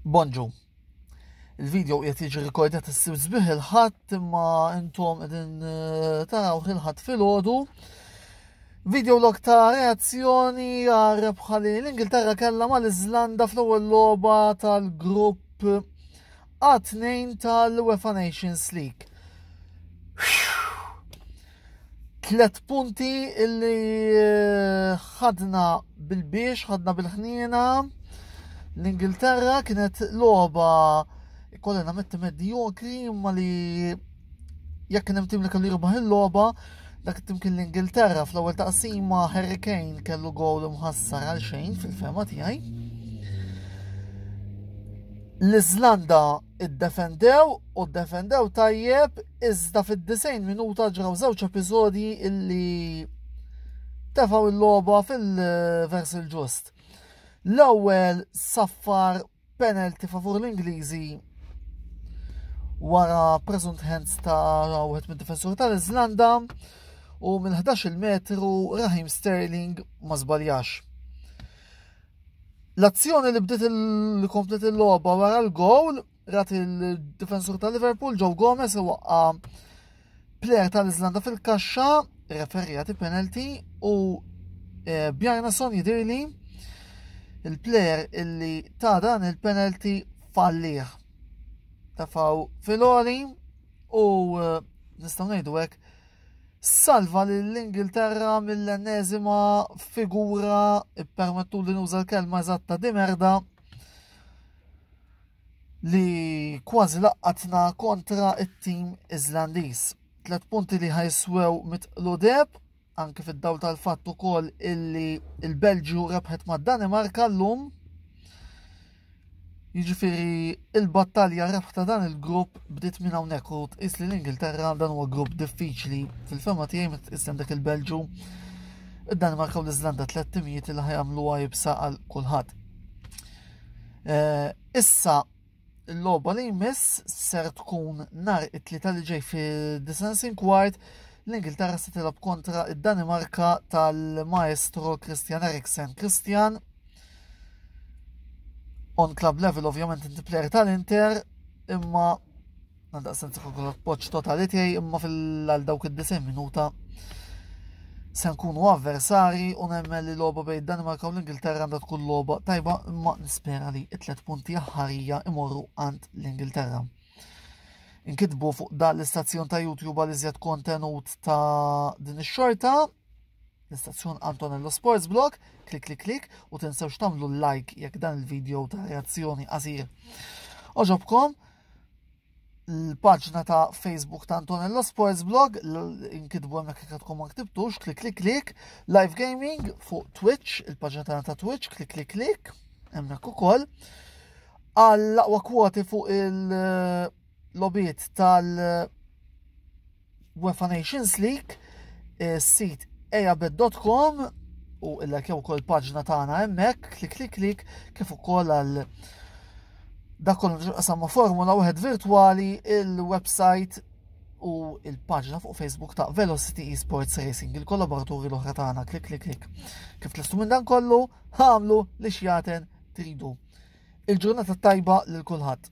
Bonġu. Il-video qiegħed jiġi rikordjat issib sbieħ il-ħadd imma intom qegħdin eh, taraw il-ħadd filgħodu. Video log ta' reazzjoni għal rebħa li l-Ingilterra kellha mal-Iżlanda fl-ewwel logħba tal-grupp A2 tal-UEFA Nations League. Tlet punti illi eh, ħadna bil-biex, ħadna bil-ħniena. L-Ingilterra kienet loba kollha nametti medjokri imma li jekk kien hemm tim li kellu jirbaħ il-logħba, dak it-tim kien l-Ingilterra fl-ewwel taqsima Harry Kane kellu gowl mħassar għal xejn fil-fema tiegħi. L-Iżlanda iddefendew u ddefendew tajjeb iżda fid-90 minuta ġraw żewġ episodji illi tefaw il-logħba fil-vers il-ġust. L-ewwel saffar penalty favur l-Ingliżi wara present hands ta' wieħed mid-difensur tal-Iżlanda u minn 11 metru Rahim Sterling ma żbaljax. L-azzjoni li bdiet il-komplet il-logħba wara l-gowl rat il-difensur ta' Liverpool Joe Gomez iwaqqa plejer tal-Iżlanda fil-kaxxa referija ti penalty u eh, Bjarnason jidirli il-plejer illi ta' dan il-penalty falliħ. Tafaw filori u eh, nistaw ngħidu hekk salva lill-Ingilterra mill-enneżima figura ippermettu li nuża l-kelma eżatta di merda li kważi laqqatna kontra it-tim Iżlandiż. Tlet punti li ħajswew mitqludeb anke fid-dawl tal-fatt ukoll illi il-Belġju rebħet mad-Danimarka llum Jiġifieri il-battalja rebħta dan il-grupp bdiet minn hawnhekk u tqis li l-Ingilterra dan huwa grupp diffiċli fil-fema tiegħi meta tqis dak il-Belġu id-Danimarka u l-Iżlanda tliet timijiet li ħajamluha jibsa għal kulħadd. Eh, issa l-logħba li jmiss ser tkun nar it-tlieta li ġej fi Disensin Kwart l-Ingilterra se tilab kontra id-Danimarka tal-maestro Christian Eriksen. Christian On club level ovvjament inti player tal-Inter imma għandaq sensi kollok poċ totali tiegħi imma fil-għal dawk id-90 minuta se nkunu avversari u nemmen li loba bejn Danimarka u l-Ingilterra għandha tkun loba tajba imma nispera li it-tlet punti aħħarija imorru għand l-Ingilterra. Inkitbu fuq dan l-istazzjon ta' YouTube għal iżjed kontenut ta' din ix-xorta l-istazzjon Antonello Sports Blog, klik klik klik u tinsewx tagħmlu like jekk dan il-video ta' reazzjoni qasir. Oġobkom l-paġna ta' Facebook ta' Antonello Sports Blog, inkitbu hemmhekk jekk tkun ma ktibtux, klik klik klik, live gaming fuq Twitch, il-paġna tagħna ta' Twitch, klik klik klik, hemmhekk ukoll. Għall-aqwa kwoti fuq il-lobiet tal- UEFA Nations League, is-sit eabet.com u illa kew kol paġna tagħna hemmhekk, klik klik klik, kif ukoll għal dak kollu nġuqasam ma' formula wieħed virtwali il-website u il-paġna fuq Facebook ta' Velocity Esports Racing, il-kollaboraturi l-oħra tagħna, klik klik klik. Kif tlistu minn dan kollu, ħamlu li xjaten tridu. Il-ġurnata tajba lil kulħadd.